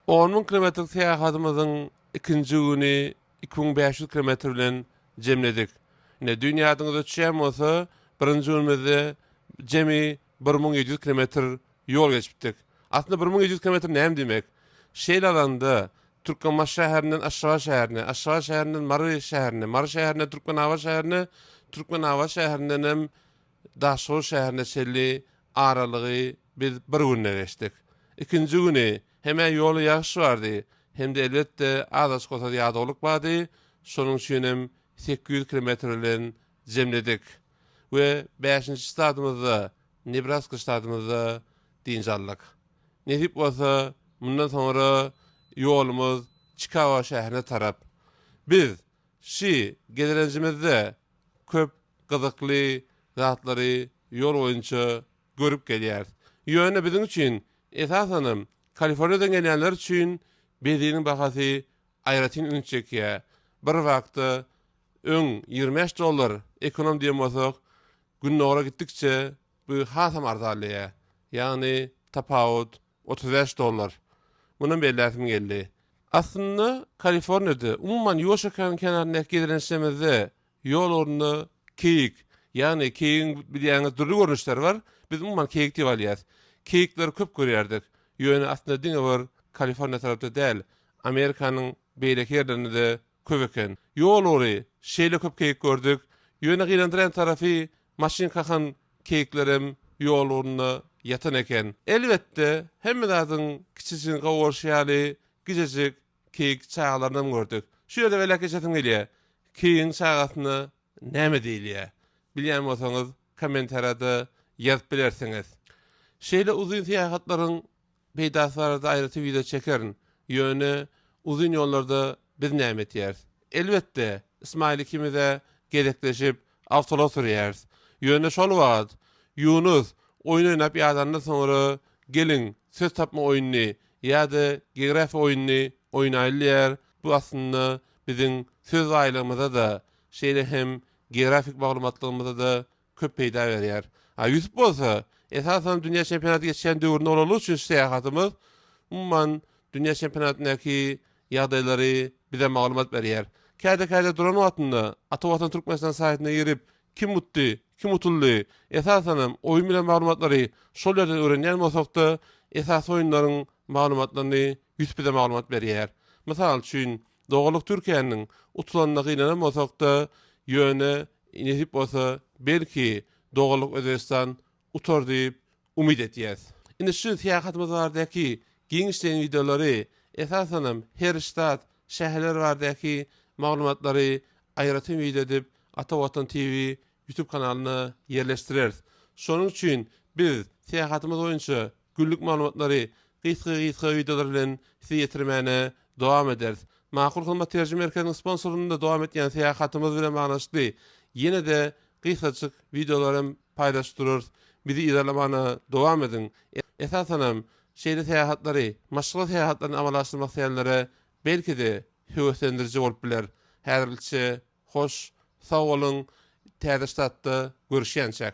On müň kilometrlik syýahatymyzyň ikinji güni iki müň bäş ýüz kilometr bilen jemledik. Ine, düýn ýadyňyza düşýän bolsa, birinji günümizde jemi bir müň ýedi ýüz kilometr ýol geçipdik. Aslynda bir müň ýedi ýüz kilometr näme diýmek? Şeýle alanda, Türkmenbaşy şäherinden Aşgabat şäherine, Aşgabat şäherinden Mary şäherine, Mary şäherinden Türkmenabat şäherine, Türkmenabat şäherindenem Daşoguz şäherine çenli aralygy biz bir günde geçdik. Ikinji güni hem-ä ýola ýagyş bardy, hem-de elbetde az-aç bolsa-da ýadawlyk bardy, şonuň üçinem sekiz ýüz kilometr bilen jemledik we bäşinji ştatymyzda, Nebraska ştatymyzda dynç aldyk. Nesip bolsa, mundan soňra ýolumyz Çikago şäherine tarap. Biz Şi gezelenjimizde köp gyzykly zatlary ýol boýunça görüp gelýäris. Ýöne biziň üçin, esasanam Kaliforniýadan gelýänler üçin beziniň bahasy aýratyn üns çekýär. Bir wagtda öň ýigrimi bäş dollar ekonom diýen bolsak, gündogara gitdikçe bu hasam arzanlaýar. Ýagny tapawut Otuz bäş dollar. Mundan belläsim geldi. Aslynda, Kaliforniýada, umuman, Ýuwaş okeanyň kenaryndaky gezelençlerimizde ýol ornuna keýik, ýagny keýigiň bilýäňiz dürli görnüşleri bar, biz umuman keýik diýip alýas. Keýikleri köp görýärdik. Ýöne aslynda diňe bir Kaliforniýa tarapda däl, Amerikanyň beýleki ýerlerinde-de köp eken. Ýol bory şeýle köp keýik gördük. Ýöne gynandyrýan tarapy, Maşyn kakan keýiklerem ýol ugrunda ýatan eken. Elbetde, hemme zadyň kiçijigini gowaryşy ýaly gijejik keýik çagalarynyam gördük. Şu ýerde beläk geçesim gelýär. Keýigiň çagasyna näme diýilýär? Bilýän bolsaňyz, kommentariýada ýazyp bilersiňiz. Şeýle uzyn syýahatlaryň Peýdasy barada aýratyn wideo çekerin. Ýöne uzyn ýollarda biz näme etýäris? Elbetde, Ismaýyl ikimiz-ä gezekleşip awtolga sürýäris. Ýöne şol wagt, Ýunus, oýun oýnap ýadandan soňra geliň, söz tapma oýnuny ýa-da geografiýa oýnuny oýnaýly diýýär, bu aslynda biziň söz baýlygymyza-da, şeýle hem geografik maglumatlygymyza-da köp peýda berýär. A Ýusup bolsa, esasan, dünýä çempionaty geçýän döwründe olarlyk üçin syýahatymyz, umuman, dünýä çempionatyndaky ýagdaýlary bize maglumat berýär. Käde-käde duran wagtynda Ata Watan Türkmenistan saýtyna girip, kim utdy, kim utuldy, esasanam, oýun bilen maglumatlary şol ýerden öwrenýän bolsak-da, esasy oýunlaryň maglumatlaryny Ýusup bize maglumat berýär. Mysal üçin, Doganlyk Türkiýäniň utulandyna gynanan bolsak-da, ýöne, nesip bolsa, belki, doganlyk Özbegistan utar diýip, umyt etýäs. Indi şu syýahatymyz baradaky giňişleýin wideolary, esasanam, her ştat, şäherler baradaky maglumatlary aýratyn wideo edip Ata Watan TV YouTube kanalyna ýerleşdireris. Şonuň üçin biz syýahatymyz boýunça Günlük maglumatlary gysga-gysga wideolar bilen size ýetirmäne dowam ederis. Makul Hyzmat terjime merkeziniň sponsorlygynda dowam etýän syýahatymyz bilen baglanyşykly ýene-de gysgajyk wideolar hem paýlaşyp durarys. Bizi yzarlamana dowam ediň. Esasanam, şeýle syýahatlary, maşgala syýahatlaryny amala aşyrmak isleýänlere belki-de höweslendiriji bolup biler. Häzirlikçe hoş, sag boluň, täze ştatda görüşýänçäk!